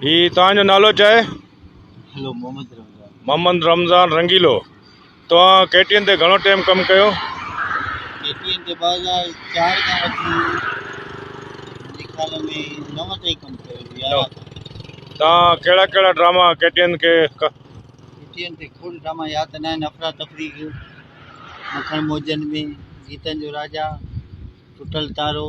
جي توهان جو نالو ڇا آهي؟ هلو محمد رمضان. محمد رمضان رنگيلو توهان ڪي ٽي اين تي گهڻو ٽيم ڪم ڪيو؟ ڪي ٽي اين تي ٻه هزار چار کان وٺي منهنجي خيال ۾ نو تائين ڪم ڪيو هجي يارهن کان. توهان ڪهڙا ڪهڙا ڊراما ڪي ٽي اين کي ڪ. ڪي ٽي اين تي کوڙ ڊراما ياد ته ناهن افرا تفري ڪيو مکڻ موجن ۾ گيتن جو راجا ٽٽل تارو.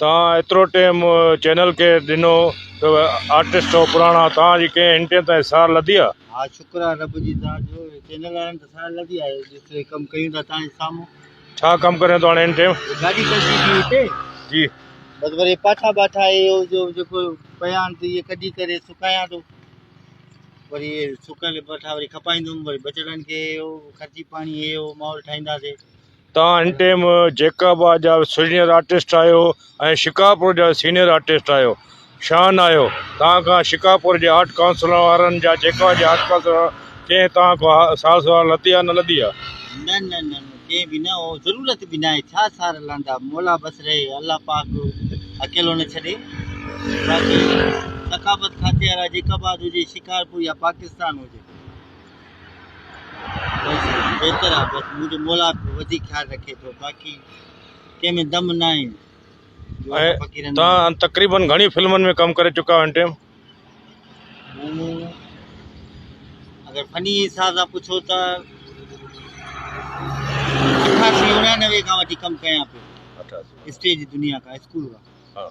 توهان ايترو ٽيم چينل کي ڏنو ته آرٽسٽ سو پراڻا توهان جي ڪنهن انٽين تان سار لڌي آ. ها شڪر آ رب جي ذات جو چينل وارن ته سار لڌي آ جيتري ڪم ڪيون ٿا توهان جي سامهون. ڇا ڪم ڪريون ٿو هاڻي ان ٽيم. گاڏي ڪڍي ٿي هتي. جي. بس وري پاٺا ٻاٺا اهي هو جو جيڪو پيا آهن ته اهي ڪڍي ڪري سڪايان ٿو وري اهي سڪل پاٺا وري کپائيندم وري ٻچڙن کي اهي هو خرچي پاڻي اهي هو ماحول ٺاهينداسي. تان هن ٽيم جيڪب آباد جا سينئر آرٽسٽ آهيو ۽ شڪارپور جا سينئر آرٽسٽ آهيو شان آهيو تان کان شڪارپور جي آرٽ ڪائونسل وارن جا جيڪا جي آرٽ ڪائونسل وارا ڪنهن تان کان ها سار سهار لڌي آهي نه لڌي آهي. نه نه نه نه ڪنهن به نه او ضرورت به ناهي ڇا سار لهندا مولا بس رهي الله پاڪ اڪيلو نه ڇڏي باقي ثقافت کاتي وارا جيڪب آباد هجي شڪارپور يا پاڪستان هجي. بس بهتر آ بس منهنجو مولا به وڌيڪ خيال رکي ٿو باقي ڪنهن ۾ دم نه آهن جو اسان فقيرن ۽ جو تان تقريبن گهڻي فلمن ۾ ڪم ڪري چڪا آهيو هن ٽيم مون اگر فني حساب سان پڇو ته اٺاسي اڻيانوي کان وٺي ڪم ڪيان پيو اسٽيج دنيا کان اسڪول کان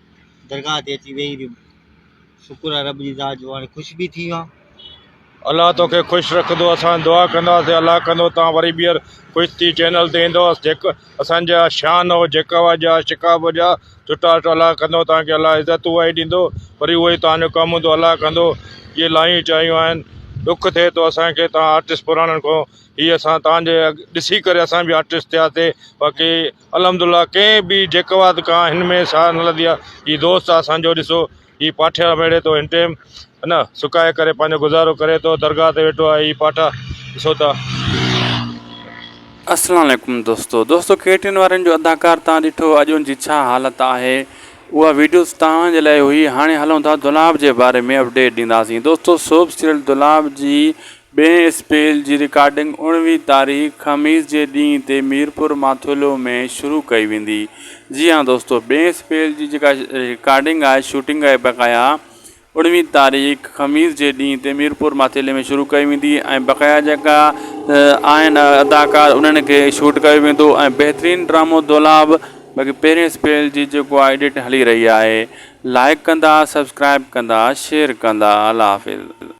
درگاهه تي اچي ويهي رهيم. شڪر آهي رب جي ذات جو هاڻي خوش به ٿي ويو آهيان. الله توکي خوش رکندو اسان دعا ڪنداسين الله ڪندو توهان وري ٻيهر خوش ٿي چينل تي ايندو جيڪ اسان جا شان او جيڪابه جا شڪابه جا چٽا چٽا الله ڪندو توهان کي الله عزت اها ئي ڏيندو وري اهو ئي توهان جو ڪم هوندو الله ڪندو اهي لاهيون چاهيون آهن ڏک ٿئي ٿو اسان کي توهان آرٽسٽ پراڻن کان هي اسان توهان جي ڏسي ڪري اسان به آرٽسٽ ٿياسي باقي الحمدالله ڪنهن به جيڪواد کان هن ۾ ساهه نه لڌي آهي هي دوست آهي اسانجو ڏسو هي پاٺيان ميڙي ٿو هن ٽيم ان سڪائي ڪري پنهنجو گذارو ڪري ٿو درگاهه تي ويٺو آهي هي پاٺا ڏسو ٿا. السلام عليڪم دوستو دوستو ڪي ٽي اين وارن جو اداڪار تان ڏٺو اڄ ان جي ڇا حالت آهي اها ويڊيوز توهان جي لاء هئي هاڻي هلون ٿا دولاب جي باري ۾ اپڊيٽ ڏينداسين دوستو سوڀ سيريل دولاب جي ٻئي اسپيل جي رڪارڊنگ اڻويهين تاريخ خميس جي ڏينهن تي ميرپور ماٿولو ۾ شروع ڪئي ويندي. جي ها دوستو ٻئي اسپيل جي جيڪا رڪارڊنگ آهي شوٽنگ آهي بقايا اڻويهين تاريخ خميس جي ڏينهن تي ميرپور ماٿيلي ۾ شروع ڪئي ويندي ۽ بقايا جيڪا آهن اداڪار انهن کي شوٽ ڪيو ويندو ۽ بهترين ڊرامو دولاب باقي پهرين اسپيل جي جيڪو آهي ايڊٽ هلي رهي آهي لائڪ ڪندا سبسڪرائب ڪندا شيئر ڪندا الله حافظ.